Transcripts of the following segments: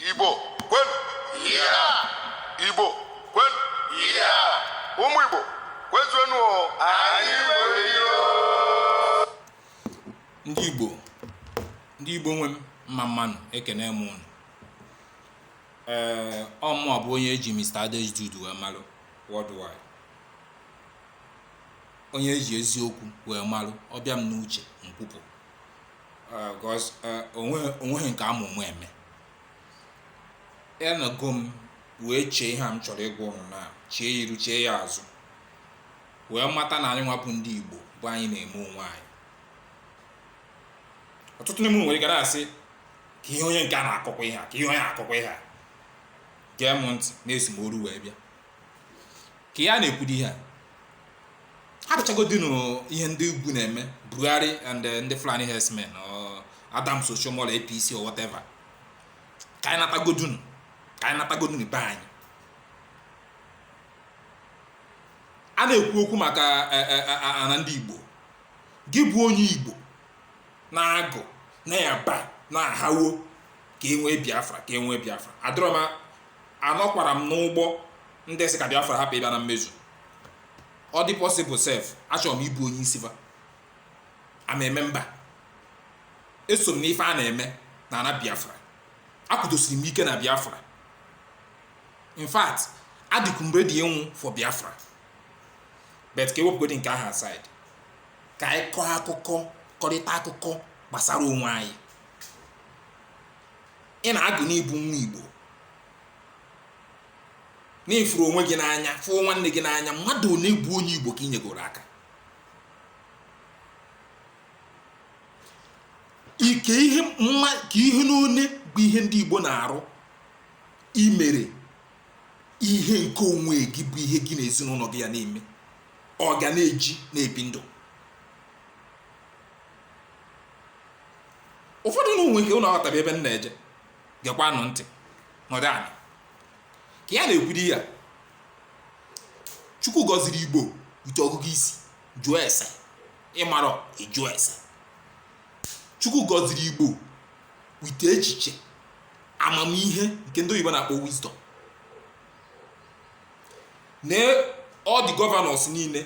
Igbo kwenu Igbo kwenu ụmụ Igbo kwezuenu anyị ndị Igbo ndị Igbo nwe m mma mmanụ ekene m unu ee ọ mụ bụ onye eji Mr. Adejude wee malụ worldwide onye eji eziokwu wee malụ ọ bịa m n'uche m kwupụ because onweghị nke ama ụmụ eme anọgo m wee chee ihe a m chọrọ ịgwa ụnụ na chee ya iru chee ya azụ wee mata na anyịnwa bụ ndị Igbo bụ anyị na-eme onwe anyị ọtụtụ n'ime nwere ike na-asị kee ihe onye nke a na-akọkwa ihe a kee ihe onye na-akọkwa ihe a gee m ntị na esi m oru wee bịa ka ya na-ekwudo ihe a hapụchagodinu ihe ndị ugwu na-eme Buhari and eh, ndị Fulani herdsmen or Adams Oshiomhole APC or whatever ka anyị natagodunu ka anyị natagodunu be anyị a na-ekwu okwu maka eh, eh, ana ndị Igbo gị bụ onye Igbo na-agụ na-aba na-ahawo ka e nwee Biafra ka e nwee Biafra adịrọ m anọkwarọ m n'ụgbọ ndị sị ka Biafra hapụ ịbịa na mmezu ọ dị possible sef achọrọ m ịbụ onye isi ife a na-eme mba eso m n'ife a na-eme na ana Biafra akwụdosiri m ike na Biafra in fact adịkwu m ready ịnwụ for Biafra but ka ewepụgodị nke ahụ aside ka anyị kọọ akụkọ kọrịta akụkọ gbasara onwe anyị ị na-agụ na ị bụ nwa igbo na ị fụrụ onwe gị n'anya fụọ nwanne gị n'anya mmadụ one bụ onye igbo ka ị nyegoro aka kee ihe mma kee ihe n'one bụ ihe ndị igbo na-arụ ị mere ihe nke onwe gị bụ ihe gị na ezinụnọ gị ya na-eme ọ ga na-eji na-ebi ndụ ụfọdụ unu nwee ike unu aghọtabeghị ebe m na-eje gekwanụ ntị nọdụ ana ka ya na-ekwuri ya chukwu gọziri igbo with ọgụgụ isi jụọ ese ị marọ ị jụọ ese chukwu gọziri igbo with echiche amamihe nke ndị oyibo na-akpọ wisdom nee all the governors niile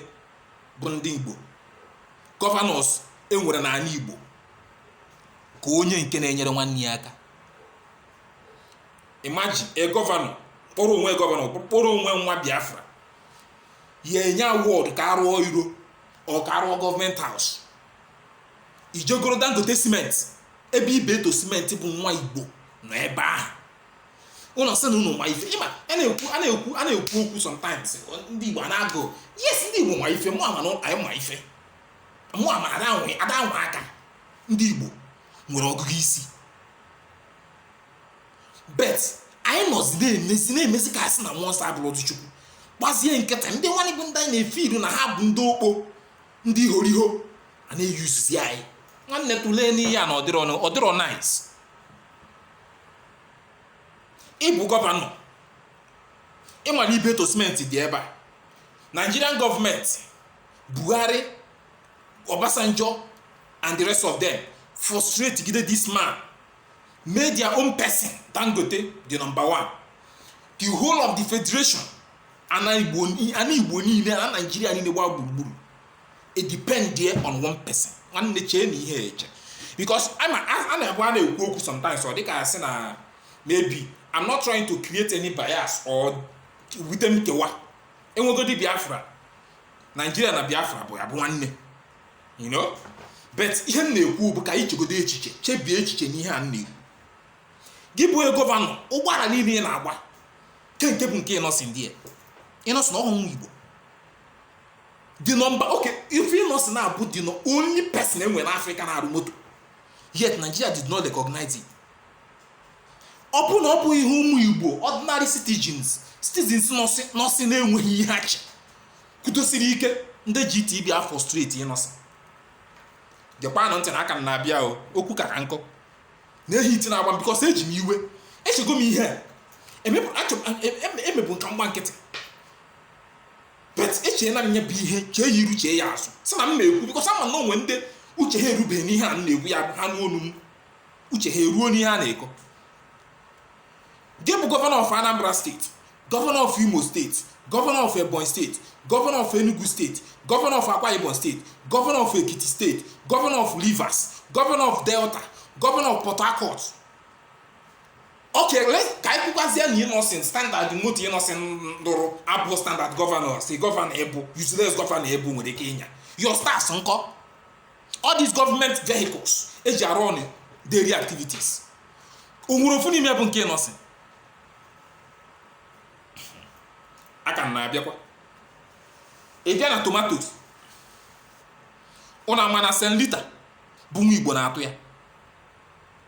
bụ ndị Igbo gọvanọs e nwere n'ala Igbo ka onye nke na-enyere nwanne ya aka imagine a gọvanọ kpọrọ onwe gọvanọ kpọrọ onwe nwa Biafra ya enye awọdụ ka a rụọ iro or ka a rụọ gọọmenti haus i jee goro Dangote simenti ebe Ibeto simenti bụ nwa Igbo nọ ebe ahụ ụnụ sị na ụnụ ma ife ị ma a na-ekwu a na-ekwu a na-ekwu okwu sometimes ndị Igbo na-agụ yes ndị Igbo ma ife mụ ama na anyị ma ife mụ ama ada anwe ada anwe aka ndị Igbo nwere ọgụgụ isi bet anyị nọzi na-emezi na-emezi ka a sị na mmụọ nsọ abụrụ ọdụ chukwu gbazie nkịtị ndị nwanne bụ ndị anyị na-efe iru na ha bụ ndị okpo ndị ihoriho a na-eyuzuzi anyị nwanne tụlee n'ihe a na ọ dịrọ ọ dịrọ nice ị bụ gọvanọ ị mara Ibeto simenti dị ebe a nigerian gọọmenti buhari obasanjo and the rest of them frustrate gide this man made their own person dangote the number one the whole of the federation ana igbo niile na nigeria niile gbaa gburugburu it depend there on one person nwanne chee na ihe eche because a na-ekwu a na-ekwu okwu sometimes ọ dịka a sị na maybe I'm not trying to create any bias or wete nkewa enwegodi Biafra Nigeria na Biafra bụ ya bụ nwanne you know but ihe m na-ekwu bụ ka anyị chegodo echiche chebie echiche n'ihe a m na-ekwu gị bụ gọvanọ ụgbọala niile ị na-agba kee nke bụ nke Innoson ndị Innoson na whole Igbo the number okay if Innoson na-abụ the only person e nwere na africa na-arụ moto yet nigeria did not recognize it ọ bụ na ọ bụghị ihe ụmụ igbo ordinary citizens citizens nọsị na-enweghị ihe ha chị kwudosiri ike ndị GTB afrustrate Innoson gekwanụ ntị na aka m na-abịa o okwu ka ka nkụ na-ehi iti na-agba m bikọs eji m iwe echego m ihe emebụ e, e, e, ka m gbaa nkịtị bet echeela m ya bụ ihe chee ya iru chee ya azụ sị na m na-ekwu bikọs ama m na o nwe ndị uche ha erubeghị n'ihe a m na-ekwu ya ha nụ ọnụ m uche ha eruo n'ihe a na-ekọ gị bụ gọvanọ of Anambra steeti gọvanọ of Imo steeti gọvanọ of Ebonyi steeti gọvanọ of Enugu steeti gọvanọ of Akwa Ibom steeti gọvanọ of Ekiti steeti gọvanọ of Rivers gọvanọ of Delta gọvanọ of Port Harcourt Okay, let's ka anyị kwukwazie na Innoson standard moto Innoson lụrụ abụ standard gọvanọ si gọvanọ ị bụ useless gọvanọ ị bụ nwere ike ịnya your staffs nkọ all these government vehicles eji a-run daily activities onwere ofu n'ime bụ nke Innoson aka m na-abịakwa ị bịa na tomatoes ụna ma na Saint Rita bụ nwa igbo na-atụ ya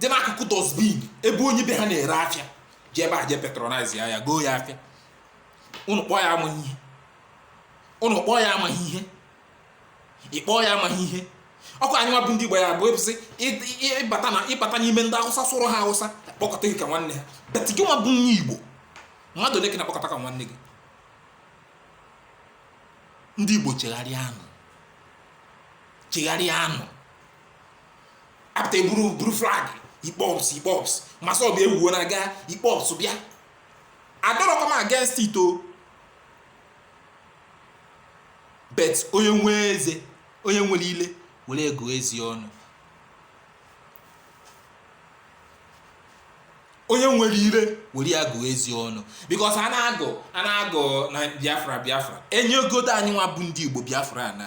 dị n'akụkụ dustbin ebe onye be ha na-ere afịa jee ebe a je patronize ya goo ya afịa ụnụ kpọọ ya amaghị ihe ụnụ kpọọ ya amaghị ihe ịkpọọ ya amaghị ihe ọkụ anyị nwa bụ ndị Igbo ya bụ ebụsị ịbata na ịbata n'ime ndị Awụsa sụrụ ha Awụsa kpọkọta gị ka nwanne ha but gị nwa bụ nwa Igbo mmadụ ole ka na-akpọkọta ka nwanne gị ndị Igbo chegharịanụ chegharịanụ apụta eburu buru flag IPOB IPOB MASSOB ewuo na-aga IPOB bịa adịrọkwa m against it o but onye nwe eze onye nwere ile were ya gụọ eze ọnụ onye nwere ire were ya gụọ eze ọnụ because a na-agụ a na-agụ na Biafra Biafra enyegodu anyị nwa bụ ndị Igbo Biafra na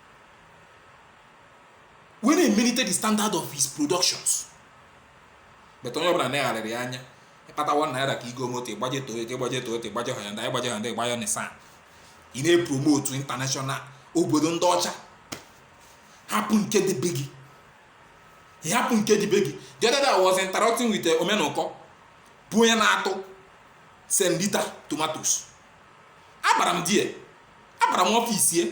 wee na-emelite the standard of his productions but onye ọbụla na-agharịrị anya ịkpata one naira ka igo moto ịgbaje Toyota ịgbaje Toyota ịgbaje Hyundai ịgbaje Hyundai ịgbaje Nissan ị na-epromotu international obodo ndị ọcha hapụ nke dị be gị hapụ nke dị be gị the other day I was interacting with eh, omenụkọ bụ onye na-atụ Saint Rita tomatoes abara m the abara m office ye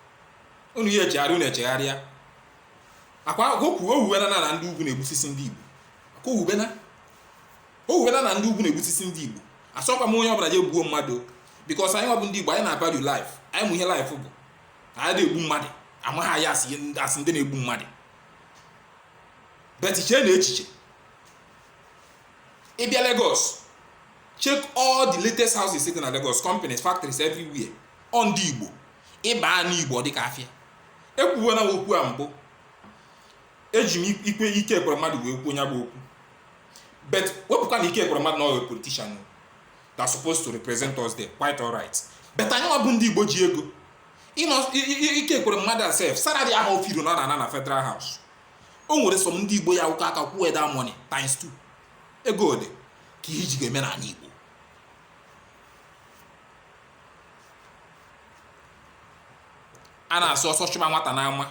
unu ya echegharị unu echegharịa akwa okwu owuwena na na ndị ugwu na-egbusisi ndị Igbo akwa owuwena owuwena na ndị ugwu na-egbusisi ndị Igbo asọkwa m onye ọbụla je gbuo mmadụ because anyị nwa bụ ndị Igbo anyị na-avalue life anyị ma ihe life bụ anyị adị egbu mmadụ amaghị anyị as ndị na-egbu mmadụ but chee na echiche ịbịa Lagos check all the latest houses sitting na Lagos companies factories everywhere ọ ndị Igbo ịba anị igbo ọ dịka afịa ekwuwela m okwu a mbụ eji m ikwe Ike Ekweremadu wee kwuo nya bụ okwu but wepụkwa na Ike Ekweremadu na ọ wụ politician that supposed to represent us there quite alright but anyị nwa bụ ndị igbo ji ego Ike Ekweremadu a sef salary ahụ ofiro na ana na federal house o nwere some ndị igbo ya-akụ aka kwụọ that money times 2 ego ole ka ihe iji ga-eme n'anị igbo a na-asị ọsọ chụba nwata n'ama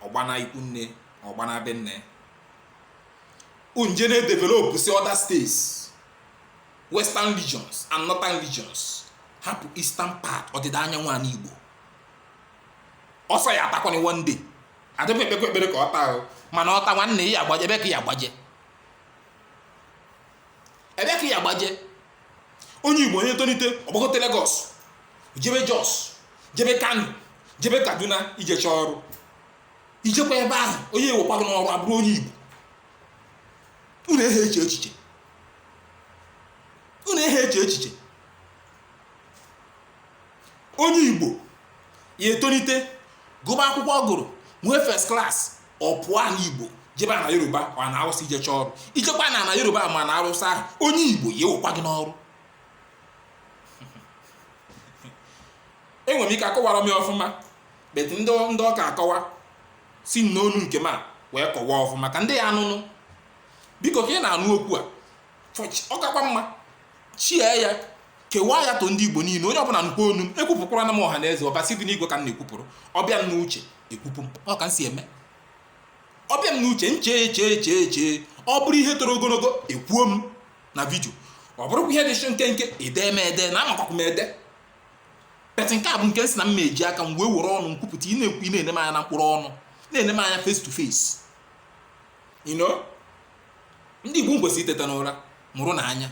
ọ gbana ikwu nne ọ gbana be nne unu je na-edevelopụsị other states western regions and northern regions hapụ eastern part ọdịda anyanwụ anị igbo ọsọ ya adakwanụ one day adị m ekpekwa ekpere ka ọ daa o mana ọ daa nwanne ebee ka ị ya agbaje ebee ka ị ya agbaje onye igbo ya etonite ọ gbagote Lagos jebe Jos jebe Kano jebe Kaduna ije chọọ ọrụ i jekwa ebe ahụ onye ewekwa gị n'ọrụ abụrụ onye igbo unu ehe eche echiche unu ehe eche echiche onye igbo ya etonite gụba akwụkwọ ọ gụrụ nwee first class ọ pụọ n'igbo jebe na yoruba ma na awụsa ije chọọ ọrụ i jekwa na na yoruba ma na awụsa ahụ onye igbo ya ewekwa gị n'ọrụ enwere m ike akọwarọ m ya ọfụma but ndị ndị ọka akọwa si n'ọnụ nke m a wee kọwaa ọfụma ka ndị ya anụ nụ biko ka ị na-anụ okwu a ọ kakwa mma share ya kewaa ya to ndị igbo niine onye ọbụna nụkwa onu m ekwupụkwara na m ọha na eze ọbasi dị n'igwe ka m na-ekwupụrụ ọ bịa m n'uche ekwupụ m ọ ka m si eme ọ bịa m n'uche m chee chee chee chee ọ bụrụ ihe toro ogonogo ekwuo m na video ọ bụrụkwa ihe dịsị nkenke edee m ede na amakwakwa m ede but nke a bụ nke sị na m eji aka m wee were ọnụ m kwupụta ị na-ekwu ị na-ene m anya na mkpụrụ ọnụ na-ene m anya face to face you know ndị igbo kwesịrị iteta n'ụra mụrụ na anya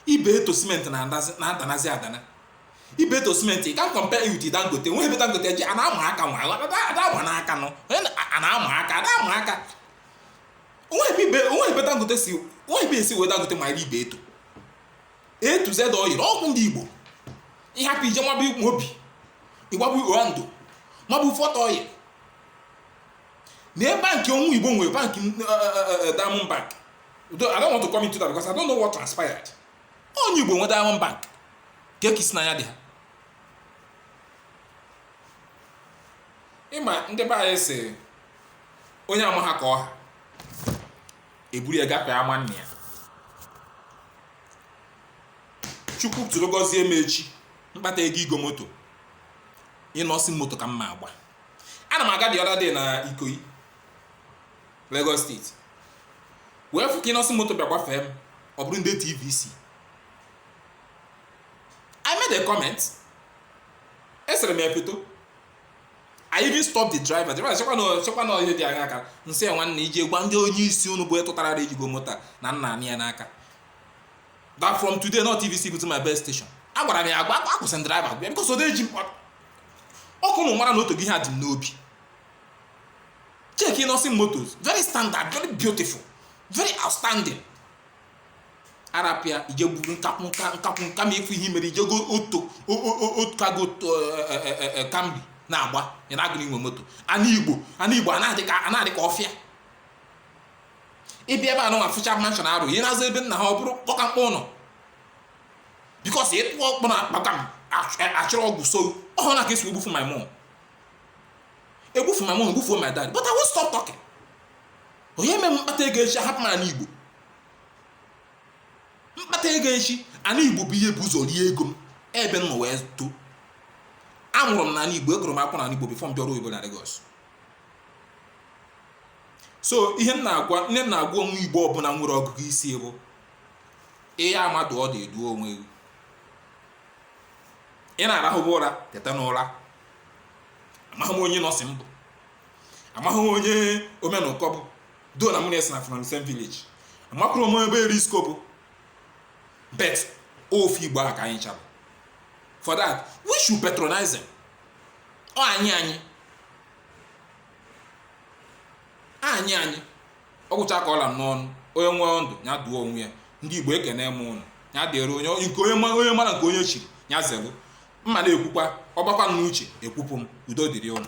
Ibeto cement na-adanazi adana Ibeto cement ka m compare you to dangote nwe ebe dangote ji ana ama aka nwa ada ama n'aka nọ ana ama aka ada ama aka o nwe ebe dangote si o nwe ebe e si wee dangote ma ebe Ibeto A to Z oil ọ bụ ndị igbo ị hapụ ije Mobil ị gbaba Oando mabụ Forte oil na bank onye igbo nwe bank eh, eh, eh, diamond bank I don't want to come into that because I don't know what transpired onye igbo nwe diamond bank ka ekisi na ya dị ha ị ma ndị be anyị sị onye amaha ka ọ ha e buru ya gafee ama nna ya chukwu tụrụ gọzie m echi m kpata ego igo moto Innoson moto ka m ma agba ana m aga the other day na Ikoyi Lagos State wee fụ ka Innoson moto bịa gbafee m ọ bụrụ ndị TVC I made a comment esere m ya foto I even stop the driver driver chekwa na ihe dị anya aka m sị ya nwanne ị je gwa ndị onye isi unu bụ ịtụtara ejigo moto na nna anị ya n'aka that from today na ọ TVC bụ to my best station agwara m ya agwa akwụsị m driver a because ọ na-eji mkpọrọ ọ ka ụnụ mara na o tego ihe a dị m n'obi check Innoson Motors very standard very beautiful very outstanding a rapụ ya ị je buru nkakwụ ma efu ihe mere ije go otu kago Camry na-agba ị na-agụrụ inwe moto ana igbo a na-adị ka ọfịa ị bịa ebe a nụnwa fụcha mansion a rụ ị je n'azụ be nna ha ọ bụrụ kpọkamkpọ ụlọ because ịtụ ọkpọ na akpaka achịrị ọgwụ so ọhụrụ na ka esi egbufu my mom egbufu my mom egbufuo my dad but I won't stop talking onye mere m kpata ego echi ahapụ m ana Igbo m kpata ego echi ana Igbo bụ ihe bu ụzọ rie ego m ebe m nọ wee too amụrụ m n'ana Igbo agụrụ m akwụkwọ n'ana Igbo before m bịara oyibo na Lagos so ihe m na-agwa onye Igbo ọbụla nwere ọgụgụ isi bụ ị ya ama ndụ ọdụ dụọ onwe gị ị na-arahụba ụra teta n'ụra amaghị m onye Innoson bụ amaghị m onye omenụkọ bụ though na mụ na ya si na from same village amakwọrọ m ebe Erisco bụ but ofu igbo a ka anyị cha bụ for that we should patronize them ọ anyị anyị ọ anyị anyị ọ gwụcha ka ọ la m n'ọnụ onye nwee ndụ ya dụọ onwe ya ndị igbo ekene m ụnụ ya dịrị onye nke onye ma- onye mara nke onye chiri ya zelu mma na-ekwukwa ọ gbakwa m n'uche ekwupụ m udo dịrị ụnụ